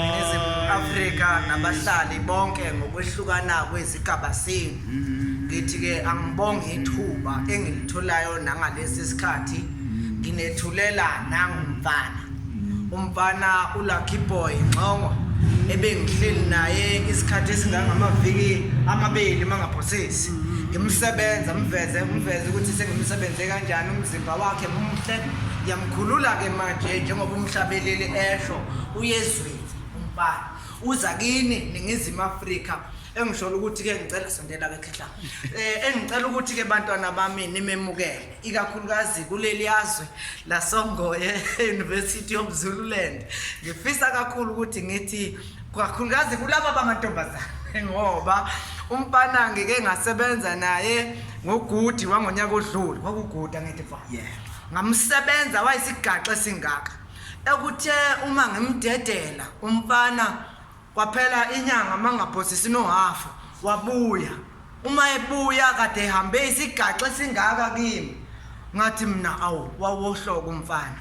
Ningizimu Afrika nabahlali bonke ngokwehlukana kwezigaba senu. Ngithi ke angibonge ithuba engilitholayo nangalesi sikhathi nginethulela nangumfana. Umfana uLucky Boy Nxongo ebengihleli naye isikhathi esingangamaviki amabili mangaphosisi. Ngimsebenza mveze mveze ukuthi sengimsebenze kanjani umzimba wakhe muhle Ngiyamkhulula-ke manje njengoba umhlabeleli esho uyezweni umbani uza kini ningizimu afrika engishola ukuthi-ke ngicela sondela ke khehla um eh, engicela ukuthi-ke bantwana bami nimemukele ikakhulukazi kuleli yazwe lasongoye e-university of zululand ngifisa kakhulu ukuthi ngithi kakhulukazi kulaba bamantombazane ngoba umfana ngike ngasebenza naye ngogudi wangonyaka odlule kwakuguda ngithi fa ngamusebenza wayisigaxa esingaka ekuthe uma ngimdedela umfana kwaphela inyanga mangaphosisi nohafu wabuya uma ebuya kade ehambe isigaxa esingaka kimi ngathi mina awu wawohloka umfana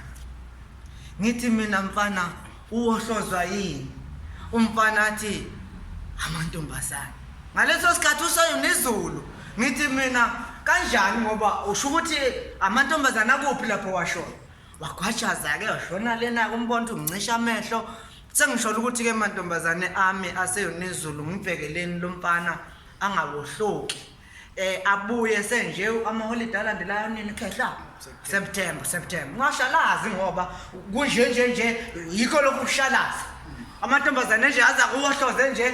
ngithi mina mfana Uwohlozwa yini umfana athi amantombazane ngaleso sikhathi ushoyo nezulu ngithi mina kanjani ngoba usho ukuthi amantombazane akuphi lapho washoyo wagwajaza-ke washona lena kumbonto ungicisha amehlo sengisholo ukuthi-ke mantombazane ami aseyonezulu ngibhekeleni lo mfana angawohloki eh abuye senje amaholide alandelayo nini khehla September September ungashalazi ngoba kunje nje nje yikho lokhu kushalaza amantombazane nje aza kuwohloze nje